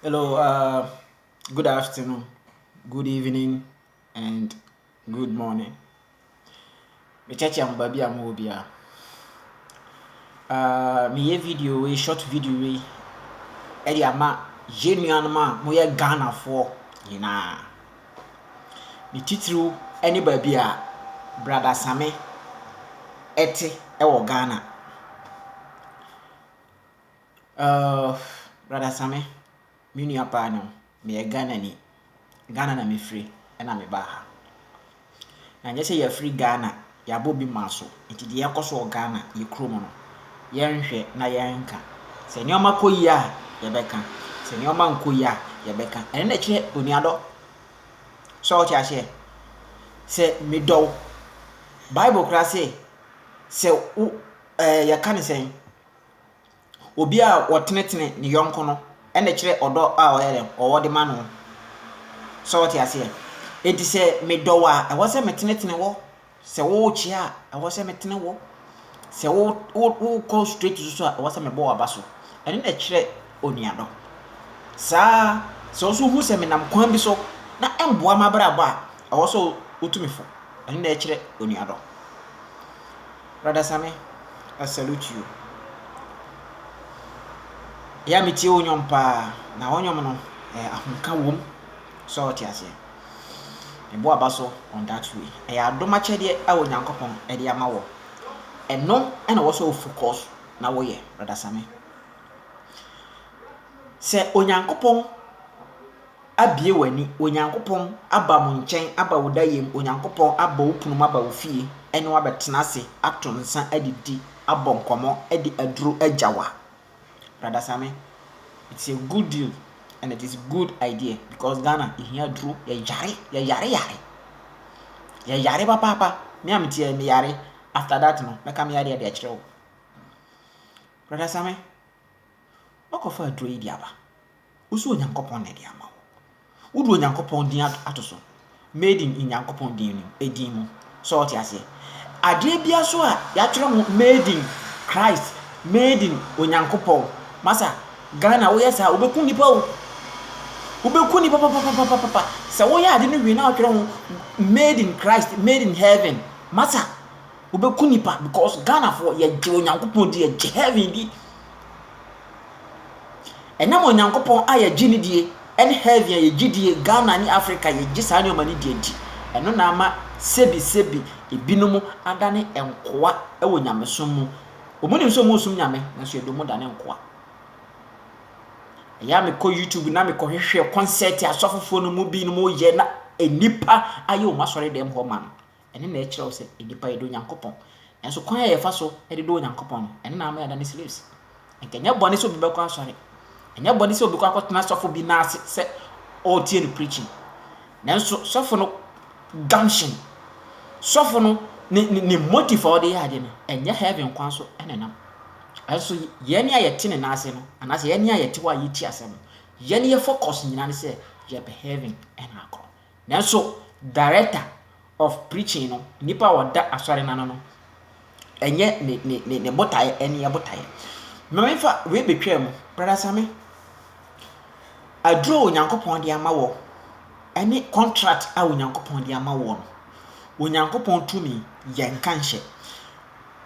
Hello, uh, good afternoon, good evening, and good morning. Mekyɛkyɛ mo baabi a mowɔ biara. Uh, meyɛ video wei, short video wei, ɛde ama yɛn nuanom a moyɛ Ghanafoɔ nyinaa. Ne titiriw ne baabi a Brada Same ɛte ɛwɔ Ghana. Uuff brother Same me nua paa no meyɛ Ghana ni Ghana na me firi ɛna me baa ha na nyɛ sɛ yɛfiri Ghana yɛabɔ obi maa so nti deɛ ɛkɔ so wɔ Ghana yɛ kuro mu no yɛnhwɛ na yɛnka sɛ nneɛma kɔ yie a yɛbɛka sɛ nneɛma nkɔ yie a yɛbɛka ɛno na ɛkyerɛ onuadɔ sɛ ɔte aseɛ sɛ medɔ wo Bible koraa sɛ sɛ wo ɛɛ yɛka ne sɛn Obi a ɔtenetene ne yɔnko no na ɛkyerɛ ɔdɔ a ɔyɛ dɛn, ɔwɔ de ma no. So wote aseɛ? Enti sɛ medɔ wo a, ɛwɔ sɛ metenetene wo. Sɛ worekyea a, ɛwɔ sɛ metene wo. Sɛ wo wo wokɔ straight so a, ɛwɔ sɛ mebɔ w'aba so. Ɛno na ɛkyerɛ onuadɔ. Saa ara, sɛ wo nso wohu sɛ menam kwan bi so na ɛmmoa m'abrabɔ a, ɛwɔ sɛ wotu me fo. Ɛno na ɛkyerɛ onuadɔ. Brother Same, I salute you. Yɛ a metie wo nnwom paa, na wo nnwom no, eh, ahomka wom. Sɛ ɔte aseɛ. Mebɔ aba so on that way. Ɛyɛ adom akyɛdeɛ a Onyankopɔn de ama wɔ. Ɛno na ɛwɔ sɛ wo focus na woyɛ, Brother Same. Sɛ Onyankopɔn abue w'ani, Onyankopɔn aba mo nkyɛn aba wo dayɛm, Onyankopɔn abɔ wo punu mu aba wo fie ɛne wo abɛtena ase ato nsa adidi, abɔ nkɔmmɔ, de aduro agya wo a, Brada Same, it's a good deal and it is good idea because Ghana yɛhia aduro, yɛyare, yɛyare yare, yɛyare papaapa, me a meteɛ meyare, after that no mɛka me yareɛ de akyerɛ wo. Brada Same. Woakɔfa aduro yi de aba. Wo so Onyankopɔn na ɛde ama wo. Wode Onyankopɔn din ato so. Made in Nyankopɔn din no edin mu. So ɔte aseɛ? Adeɛ bia so a yɛatwerɛ ho made in Christ, made in Onyankopɔn. Masa, Ghana woyɛ saa wobɛku nipa o. Wobɛku nipa papapapapa. Sɛ woyɛ ade no wie na wotwerɛ ho made in Christ, made in heaven. Masa. Wobɛku nipa because Ghanafoɔ yɛgye Onyankopɔn di yɛgye heaven di. Ɛnam Onyankopɔn a yɛgye ne die ɛne heaven a yɛgye die Ghana ne Africa yɛgye saa nneɛma no di adi. Ɛno na ama sebi sebi ebinom adane nkoa wɔ nyamesom mu. Wɔn nim sɛ wɔn som nyame nanso yɛde wɔn dane nkoa. Ɛyɛ a mekɔ YouTube na mekɔhwehwɛ kɔnsɛt asɔfofoɔ no mu binom yɛ na nnipa ayɛ wɔn asɔre dɛm hɔ ma no. Ɛno na ɛkyerɛ wo sɛ nnipa yɛdɔ Onyankopɔn. Nanso kwan a yɛfa so de dɔ Onyankopɔn no, ɛno na ama yɛada no slaves. Ɛnka ɛnyɛ bɔne sɛ obi bɛkɔ asɔre. Ɛnyɛ bɔne sɛ obi kɔ akɔtena sɔfo bi nan ase sɛ ɔretie no preaching. Nanso sɔfo no gumption, sɔfo no ne ne ne motive a ɔde yɛ ade no, ɛnyɛ heaven kwan so na ɛnam. Nanso yɛn a yɛte ne nan ase no, anaasɛ yɛn a yɛte hɔ a yɛtie asɛm no, yɛn yɛ focus nyinaa ne sɛ yɛpɛ heaven na akɔ. Nanso director of preaching no, nipa a ɔda asɔre no ano no, ɛnyɛ ne ne ne ne botaeɛ ɛne yɛ botaeɛ. Ma me fa wei betwaa mu, brada Same. Aduro a Onyankopɔn de ama wɔ, ɛne contract a Onyankopɔn de ama wɔ no, Onyankopɔn tumi yɛn nka nhyɛ.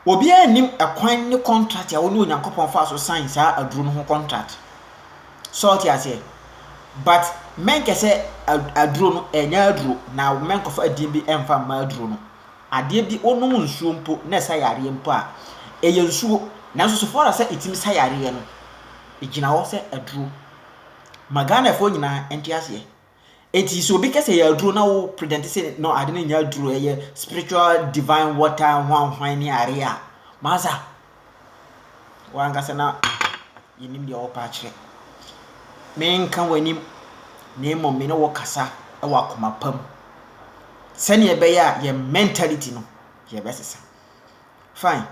Obiara nnim ɛkwan ne kɔntrat a wo ne Onyankopɔn faa so sign saa aduro no ho kɔntrat. So wote aseɛ? But mɛnkɛ sɛ aduro no ɛnyɛ aduro na mɛnkɔfa din bi ɛmfa mma aduro no. Adeɛ bi wonom nsuo mpo na ɛsa yareɛ mpo a, ɛyɛ nsuo nanso so far as sɛ ɛtumi sa yareɛ no, ɛgyina hɔ sɛ aduro. Ma Ghanafoɔ nyinaa nte aseɛ. Enti sɛ obi ka sɛ ɛyɛ aduro na wo pretend sɛ no ade no nyɛ aduro, ɛyɛ spiritual divine water hwanhwan ne adeɛ a, masa wankasa na yɛnim deɛ wɔpa akyerɛ. Menka w'anim na mmom me ne wo kasa wɔ akoma pa mu sɛdeɛ ɛbɛyɛ a yɛn mentality no yɛbɛsesa. Fine,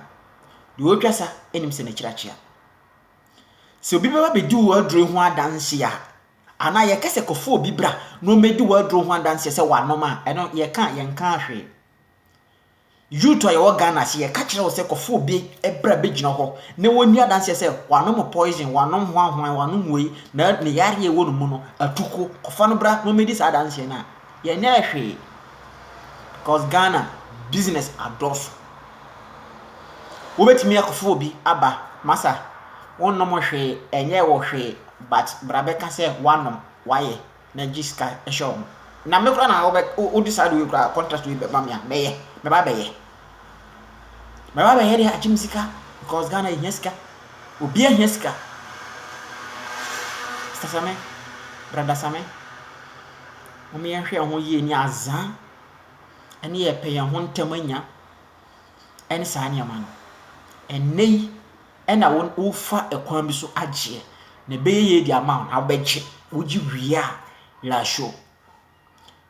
deɛ ɔtwa sa anim sɛ n'akyiri akyea. Sɛ obi bɛba bɛdi wo aduro ho adanse a, Anaa yɛka sɛ kɔfa obi bra na ɔmmɛdi w'aduro ho adanseɛ sɛ wanom a, ɛno yɛka a yɛnkaa hwee. Youth a yɛwɔ Ghana ase, yɛka kyerɛ wo sɛ kɔfa obi bra bɛgyina hɔ na wɔnni adanseɛ sɛ wanom poison, wanom hwanhwan, wanom wei, na ne yareɛ a ɛwɔ ne mu no, atuko. Kɔfa no bra na ɔmmɛdi saa adanseɛ no a, yɛnyɛɛ hwee. Because Ghana, business adɔɔso. Wobɛtumi akɔfa obi aba, masa, wonnom hwee, ɛnyɛɛ wo hwee. but bra bɛka sɛ woanom woayɛ na gye sika hyɛ wɔn na me koraa na wobɛ wo decide wei koraa contract wei bɛma me a mɛyɛ mɛba bɛyɛ mɛba bɛyɛ deɛ agye me sika because Ghana yɛhia sika obi ahia sika sasame brada same wɔn yɛnhwɛ yɛn ho yie ne azaa ɛne yɛpɛ yɛn ho ntɛm anya ɛne saa nneɛma no ɛnɛ yi Ɛna wo wofa ɛkwan bi so agyeɛ na ɛbɛyɛ yie de ama wo na wobɛgye wogye wie a werɛ ahyɛ o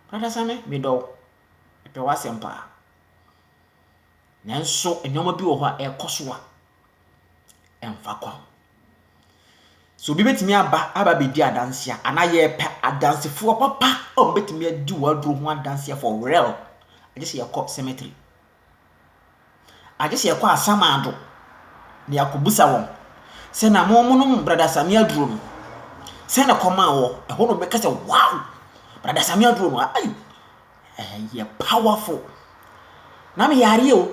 brada same medɔ wo mepɛ w'asɛm paa nanso nneɛma bi wɔ hɔ a ɛkɔ so a ɛmfa kwan so obi bɛtumi aba aba bɛdi adanse a anaa yɛpɛ adansefoɔ papa a wɔbɛtumi adi w'aduro ho adanseɛ for real agye sɛ yɛkɔ cemetery agye sɛ yɛkɔ asamando na yɛakɔbisa wɔn sɛ na monom Brada Same aduro no, sɛ na ɛkɔm a wɔ, ɛhɔ na wɔbɛka sɛ, wow, Brada Same aduro no, ai, ɛyɛ powerful. Na me yareɛ o,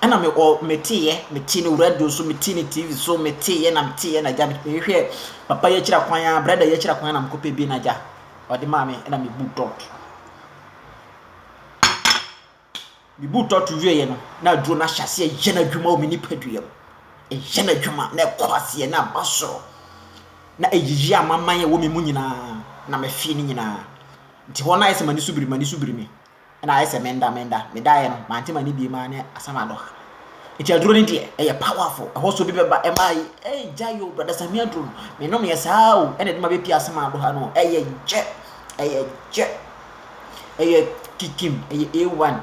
ɛna me ɔ meteeɛ metee no radio so metee no tv so meteeɛ na meteeɛ na gya mehwehwɛ papa yi akyira kwan a brada yi akyira kwan a na mekɔpɛ bi na gya ɔde maa me ɛna mebu dɔt Me boot tɔto wieeɛ no, na aduro no ahyɛ aseɛ yɛ n'adwuma wɔ me nipadua mu. Ɛyɛ n'adwuma na ɛkɔ aseɛ na ɛba soro. Na ɛyiyi amaman a ɛwɔ me mu nyinaa na mefee no nyinaa. Nti hɔ no ayɛ sɛ m'ani so biri m'ani so biri me. Ɛna ayɛ sɛ menda menda. Medaeɛ no, mante m'ani bie maa ne asam adɔ ha. Nti aduro no deɛ, ɛyɛ powerful. Ɛhɔ so bi bɛba ɛma ayɛ, ee gyae o, Brada Sammy aduro no, menom yɛ saa o, ɛna ɛde ma bɛpie asam adɔ ha no o. Ɛyɛ gyɛ, ɛyɛ gyɛ. Ɛyɛ kikim, ɛyɛ A1.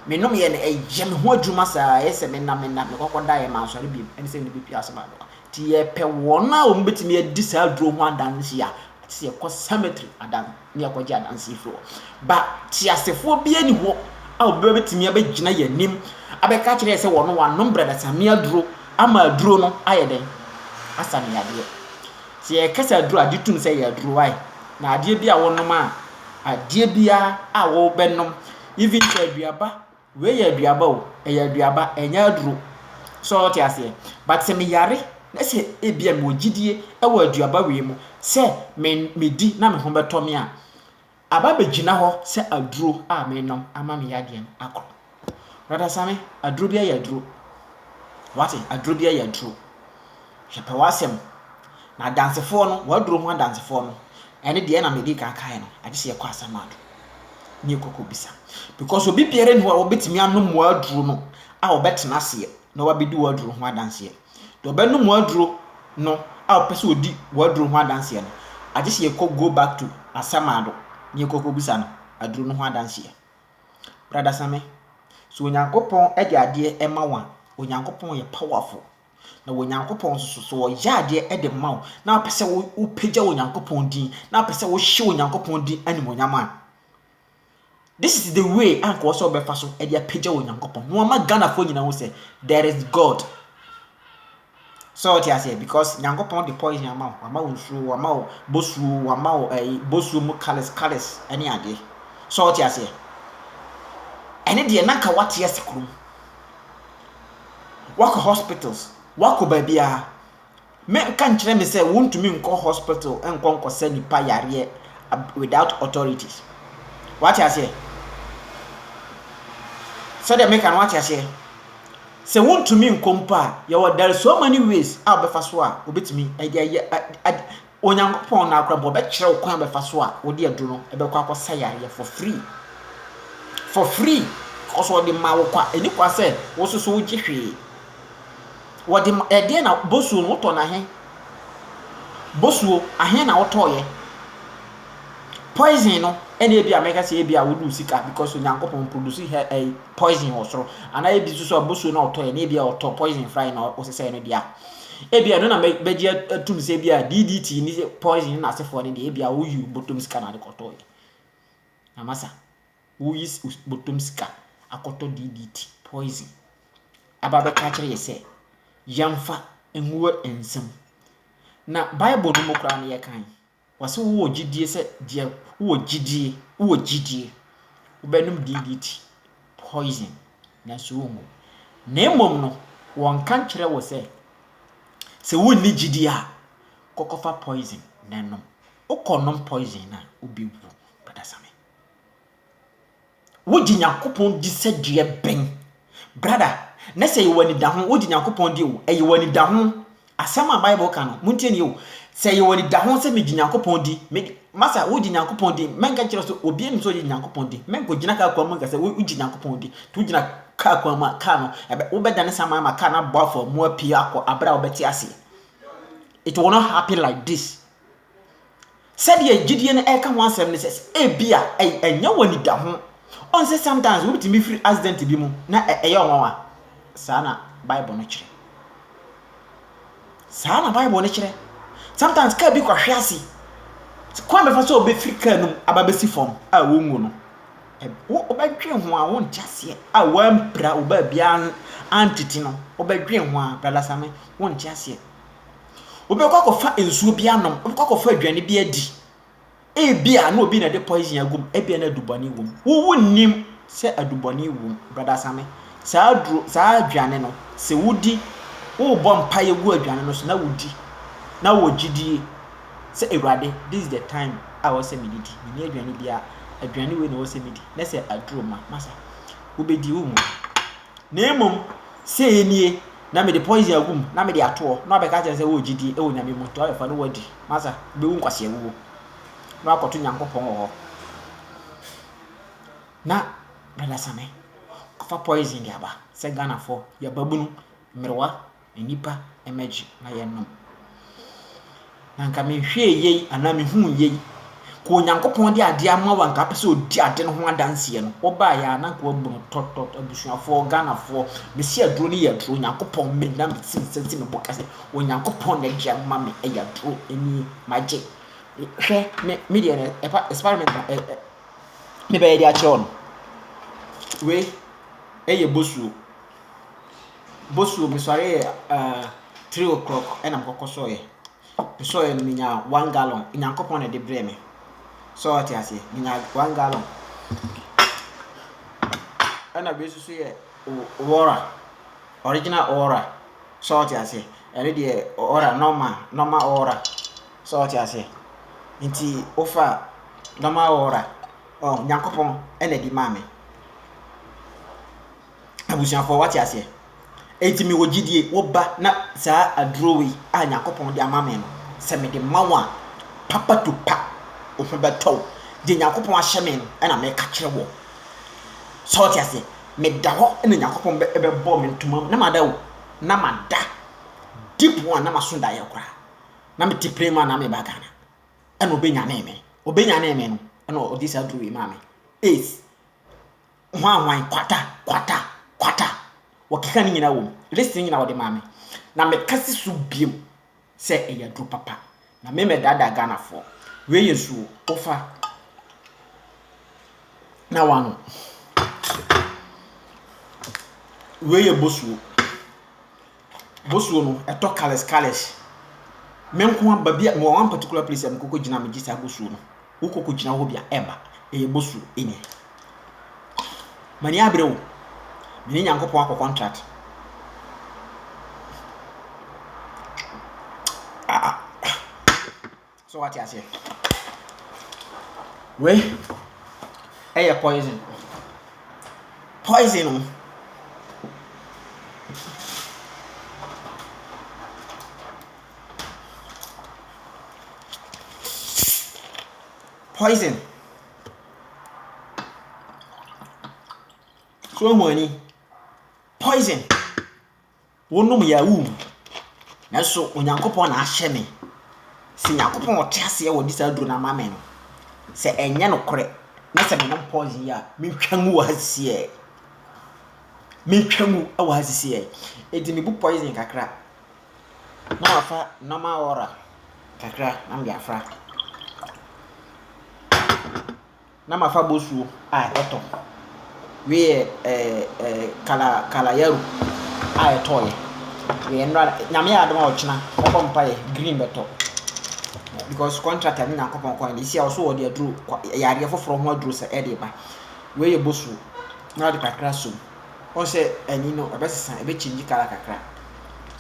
Menomyɛ no, ɛyɛ me ho adwuma saa, ɛyɛ sɛ mena mena, mekɔkɔ daeɛ mansɔre bio, ɛne sɛ mede bɛtua asɛm ano. Nti yɛpɛ wɔn a wɔbɛtumi adi saa aduro ho adanse a, ɛte sɛ yɛkɔ cemetery adan ne yɛkɔgye adanse firi hɔ. Ba teasefoɔ bi ani hɔ a obi bɛtumi abɛgyina yɛn anim abɛka akyerɛ yɛ sɛ wɔn wanom bradasamia aduro ama aduro no ayɛ dɛn? Asa ne yadeɛ. Sɛ yɛka sɛ aduru a, gye tom sɛ ɛyɛ aduru wae na adeɛ bi a wɔnom a adeɛ biara a wɔbɛnom even sɛ aduaba wei yɛ aduaba o ɛyɛ aduaba ɛnyɛ aduro sɛ ɔte aseɛ but sɛ meyare na sɛ ebi a mewɔ gyidie ɛwɔ aduaba wei mu sɛ me medi na me ho bɛtɔ me a Aba bɛgyina hɔ sɛ aduro a menom ama me yadeɛ no akɔ. Brɔda Same, aduro biara yɛ aduro. Wate, aduro biara yɛ aduro. Hwɛ pɛ w'asɛm. Na adansefoɔ no, w'aduro ho adansefoɔ no, ɛne deɛ na mede kan kaeɛ no, agye sɛ yɛkɔ Asɛmado na yɛkɔ kɔbisa. Because obi biara nni hɔ a wɔbɛtumi anom w'aduro no a ɔbɛtena aseɛ na wabɛdi w'aduro ho adanseɛ. Deɛ ɔbɛnom w'aduro no a ɔpɛ sɛ ɔdi w'aduro ho adanseɛ no, agye sɛ yɛkɔ go back to Asɛm-Ado na yɛkɔ kɔbisa no aduro no ho adanseɛ. Brada Same, sɛ Onyankopɔn de adeɛ ma wo a, Onyankopɔn yɛ powerful. Na Onyankopɔn nso so, sɛ ɔyɛ adeɛ de ma wo na wopɛ sɛ wopagya Onyankopɔn din, na wopɛ sɛ wohyɛ Onyankopɔn din animuonyam a, This is the way a nka ɔsɛ ɔbɛfa so de apagya Onyankopɔn na wama Ghanafoɔ nyinaa ho sɛ there is God. So ɔte aseɛ because Nyankopɔn de poison ama wo, wama wo nsuo, wama wo bosuo, wama wo ɛyi bosuo mu colours colours ɛne adeɛ. So ɔte aseɛ. Ɛne deɛ na nka wate ase kurom. Wakɔ hospitals, wakɔ baabiara. Me nka nkyerɛ me sɛ wontumi nkɔ hospital nkɔ nkɔsa nipa yareɛ without authorities. Wate aseɛ? Sɛdeɛ meka no wate aseɛ? Sɛ wontumi nkɔ mpo a, yɛwɔ there are so many ways a wobɛfa so a wobɛtumi ɛde ayɛ ad Onyankopɔn na akora mpo ɔbɛkyerɛ wo kwan a wobɛfa so a wode aduro no ɛbɛkɔ akɔsa yareɛ for free. For free. Because ɔde ma wo kwa. Ɛni kwa sɛ wo nso so wogye hwee. Wɔde ma ɛdeɛn na bosuo no wotɔ no ahe? Bosuo ahe na wotɔɔyɛ? Poison no ɛna ebi a mɛka sɛ ebi a wode wo sika because Onyankopɔn produce hɛ ɛyi poison wɔ soro anaa ebi nso so a bosuo na ɔtɔɔyɛ na ebi a ɔtɔ poison fry na ɔsesɛɛ no deɛ a ebi a ɛno na mɛgye atum sɛ ebi a DDT ne poison na asefoɔ no deɛ ebi a woyi bɔtɔm sika na ade kɔtɔɔyɛ. Amasa. wo yi bɔtɔm sika akɔtɔ DDT, poison, aba bɛka akyerɛ yɛ sɛ yɛmfa ngu nsam. Na Bible no mu koraa no yɛkan, wɔse wo wɔ gyidie sɛ deɛ wo wɔ gyidie, wo wɔ gyidie, wo bɛnom DDT, poison, nanso wo ngu. Na mmom no, wɔnka nkyerɛ wo sɛ, sɛ wo nni gyidie a, kɔkɔfa poison na nom. Wo kɔ nom poison no a, wo bɛwu, Brada Sammy. Wogye Nyankopɔn di sɛ deɛ bɛn? Brada, na sɛ yɛwɔ anidaho, wogye Nyankopɔn di o, ɛyɛ wɔ anidaho. Asɛm a Bible ka no, montie nie o, sɛ yɛwɔ anidaho sɛ megye Nyankopɔn di, me, masa wogye Nyankopɔn di, mɛnka kyerɛ sɛ obi anim sɛ ɔgye Nyankopɔn di, mɛnkɔgyina kaa kwan mu nka sɛ wogye Nyankopɔn di, nti wogyina kaa kwan mu a, kaa no, ɛbɛ, wobɛdane saa ma kaa no abɔ afa mu apue akɔ abere a wobɛte aseɛ. It will not happen like this. Sɛdeɛ gyidie no ɛka ho asɛm ne sɛ ebia ɛnyɛ wo anidaho. Ɔn sɛ sometimes wobɛtumi firi accident bi mu na ɛyɛ wo nwanwa. Saa na Bible no kyerɛ. Saa na Bible no kyerɛ. Sometimes kaa bi kɔhwe ase. Kwan bɛfa sɛ wobɛfiri kaa no mu aba bɛsi fam a wonwu no. Wobɛdwen ho a wonte aseɛ a woampira wo baabiara antete no. Wobɛdwen ho a brada Same wonte aseɛ. Wobɛkɔ akɔfa nsuo bi anom, wobɛkɔ akɔfa aduane bi adi. Ebia na obi na ɛde poison agum, ebia na adubɔne wom. Wo wonnim sɛ adubɔne wom, brada Same. Saa aduro, saa aduane no, sɛ wodi, wobɔ mpaeɛ gu aduane no so na wodi, na wɔ gyidie sɛ Awurade, this is the time a wɔ sɛ medidi, menni aduane biara, aduane wei na wɔ sɛ medi, na sɛ aduro ma, masa, wobɛdi wo mu. Na mmom, sei nie, na mede poison agu mu, na mede atoɔ, na wabɛka akyerɛ no sɛ, Wowɔ gyidie wɔ Nyame mu, to ayɛ fa na woadi, masa, wobɛwu nkwaseawuo, na woakɔto Nyankopɔn wɔ hɔ. Na Brada Same kɔfa poison de aba, sɛ Ghanafoɔ, yɛn babunu, mmerewa, nnipa mmɛgye na yɛnnom. Na anka mehwɛɛ yei anaa mehuu yei, ka Onyankopɔn de adeɛ ama wo anka apɛ sɛ ɔdi ade no ho adanseɛ no, wobaeɛ a na anka wabu no tɔtɔt, abusuafoɔ, Ghanafoɔ, mese aduro no yɛ aduro, Onyankopɔn me na mesi me nsa si me bo ka sɛ, Onyankopɔn na de ama me, ɛyɛ aduro, nie, magye. Hwɛ, me, me deɛ no, ɛpa, experiment na ɛ, ɛ, mebɛyɛ de akyerɛ wo no. Wei, ɛyɛ bosuo. bosuo me sɔre yɛ eh three o'clock ɛna me kɔ kɔ sɔɔ yɛ me sɔɔ yɛ no me nya one gallon nyankopɔn na ɛde brɛ me sɛ ɔte aseɛ me nya one gallon ɛna wei nso so yɛ ɔra original ɔra sɛ ɔte aseɛ ɛne deɛ ɔra normal normal ɔra sɛ ɔte aseɛ nti wofa normal ɔra ɔn nyankopɔn ɛna ɛde maa me. Abusuafoɔ, wate aseɛ? Enti mewɔ gyidie, woba na saa aduro wei a Nyankopɔn de ama me no, sɛ mede ma wo a, papa to pa, wo ho bɛtɔ wo. Deɛ Nyankopɔn ahyɛ me no na meka kyerɛ woɔ. Sɛ wote aseɛ? Meda hɔ na Nyankopɔn bɛbɔ me ntoma mu, na mada o, na mada. Deep one, na maso daeɛ koraa. Na mete plane mu a na meba Ghana. Ɛna ɔbɛnyanee me. Ɔbɛnyanee me no, ɛna ɔde saa aduro wei maa me. Ace. hwanhwan, kwata, kwata, kwata. Wɔkeka ne nyinaa wom. List no nyinaa wɔde maa me. Na mekase so bio sɛ ɛyɛ aduro papa. Na me mɛdaadaa Ghanafoɔ. Wei yɛ nsuo. Wofa na wanom. Wei yɛ bosuo. Bosuo no ɛtɔ colours colours. Me nko ara baabi a mewɔ one particular place a mekɔ kɔ gyina a megye saa bosuo no. Wokɔ kɔ gyina hɔ bi a ɛba. Ɛyɛ bosuo ɛnyɛ. M'ani abere o. Me ne Nyankopɔn akɔ contract. Ah ah. So wate aseɛ? Wei ɛyɛ poison. Poison o. Poison. So ehu ani. Poison. Wonom yɛ a wowuwu. Nanso Onyankopɔn na ahyɛ me sɛ Nyankopɔn a ɔte aseɛ ɔde saa aduro no ama me no, sɛ ɛnyɛ nokorɛ na sɛ menom poison yi a, mentwa ngu wɔ ha sisiɛɛ. Mentwa ngu wɔ ha sisiɛɛ. Enti mebu poison kakra na mafa normal water kakra na mede afra. Na mafa bosuo a ɛtɔ weɛ ɛɛ kala kalayaru a ɛtɔɔyɛ weɛ nnora nyame yɛ adom a ɔkyena mɛbɔ mpaeɛ green bɛtɔ because contract ne nyankopɔn kwan de si a ɔso wɔde aduro yareɛ foforɔ ho aduro sɛ ɛde ba wei yɛ bosuo na ɔde kakra som wɔn sɛ ani no ɛbɛsesa ɛbɛkyingyi kala kakra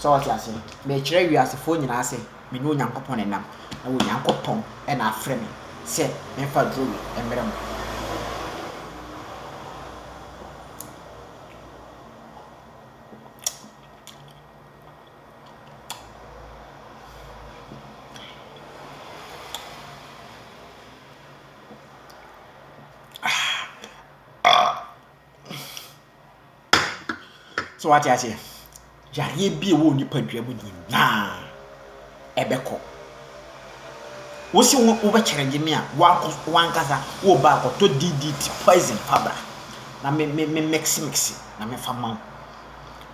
sɛ ɔte ase mɛkyerɛ wiasefoɔ nyinaa sɛ Me ne Onyankopɔn na ɛnam, na Onyankopɔn na afrɛ me sɛ memfa aduro wei mmrɛ mo. So wate aseɛ? Yareɛ bi a ɛwɔ nipadua mu nyinaa ɛbɛkɔ. Wosi wo wobɛkyerɛ gye me a wakɔ wankasa wo ba akɔtɔ DDT poison fabra na me me me mix mix na me fa ma wo.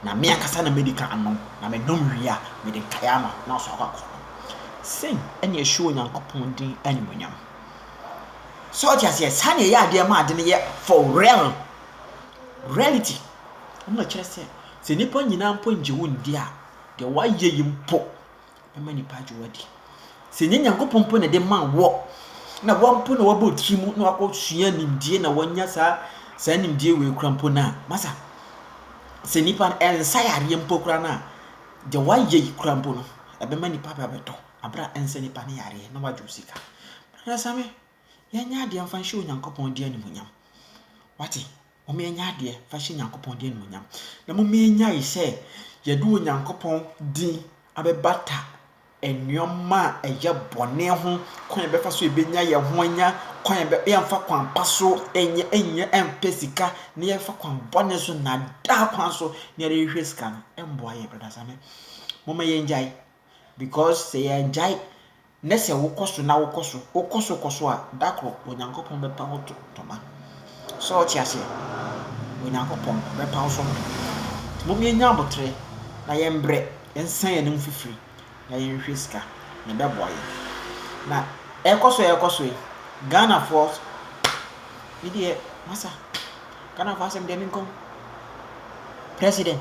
Na me ankasa na medi kan nom na me nom wie a mede nkae ama na ɔso akɔ akɔ. Sɛn ɛna ɛhyɛ Onyankopɔn din animuonyam. So wate aseɛ? Saa na ɛyɛ adeɛ ma ade no yɛ for real. Reality. Ɛna kyerɛ sɛ sɛ nnipa nyinaa mpo ngye wo ndi a, deɛ woayɛ yi mpo bɛma nnipa agye wo adi. Sɛ nyɛ Nyankopɔn mpo na ɛde maa wɔ, na wɔn mpo na wɔabɔ tiri mu na wɔakɔsua nimdie na wɔanya saa saa nimdie wei kora mpo no a, masa sɛ nnipa no ɛnsa yareɛ mpo kora no a, deɛ woayɛ yi kora mpo no, ɛbɛma nnipa bɛbɛtɔ abera ɛnsɛ nnipa no yareɛ na wɔagye wo sika. Brada Same, Yɛnyɛ adeɛ mfa nhyɛ Onyankopɔn din animuonyam. Wate? Momma yɛnyɛ adeɛ mfa nhyɛ Onyankopɔn din animuonyam. Na momma yɛnyae sɛ yɛde Onyankopɔn din abɛbata nneɛma a ɛyɛ bɔne ho kwan a yɛbɛfa so yɛbɛnya yɛn ho anya kwan a yɛmfa kwan pa so nyɛ nyɛ mpɛ sika na yɛfa kwan bɔne so na daa kwan so na yɛde rehwɛ sika no ɛmboa yɛn brada same momma yɛngyae because sɛ yɛngyae Ne sɛ wokɔ so na wokɔ so, wokɔ so kɔ so a, da koro Onyankopɔn bɛpa wo to ntoma. So wote aseɛ? Onyankopɔn bɛpa wo so ntoma. Nti mom yɛnyɛ aboterɛ na yɛmbrɛ, yɛnsa yɛn anom fifiri na yɛnhwɛ sika, na ɛbɛboa yɛn. Na ɛrekɔ so a ɛrekɔ so yi, Ghanafoɔ, me deɛ, masa. Ghanafoɔ asɛm deɛ menkɔ ho. President.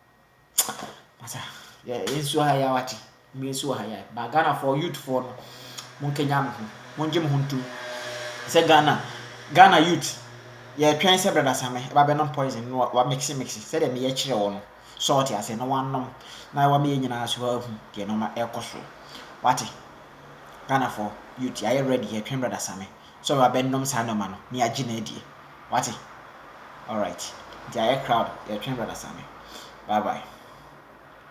Masa, yɛn nso wɔ ha yi a wate, yɛn nso wɔ ha yi a, ba Ghanafoɔ youthfoɔ no, monkanya mo ho, mongye mo ho ntom. Sɛ Ghana, Ghana youth, yɛtwɛn sɛ Brada Same ɛba bɛnom poison no wa mixi mixi sɛdeɛ meyɛ kyerɛ wɔ no, sɛ ɔte aseɛ na wanom na wama yɛn nyinaa so ahu deɛ nneɛma ɛrekɔ so. Wate, Ghanafoɔ youth, yɛayɛ ready, yɛtwɛn Brada Same. sɛ ɔrebɛnom saa nnoɔma no na yɛagye no adie wate alright nti ayɛ crowd yɛtwɛn brother Saame bye bye.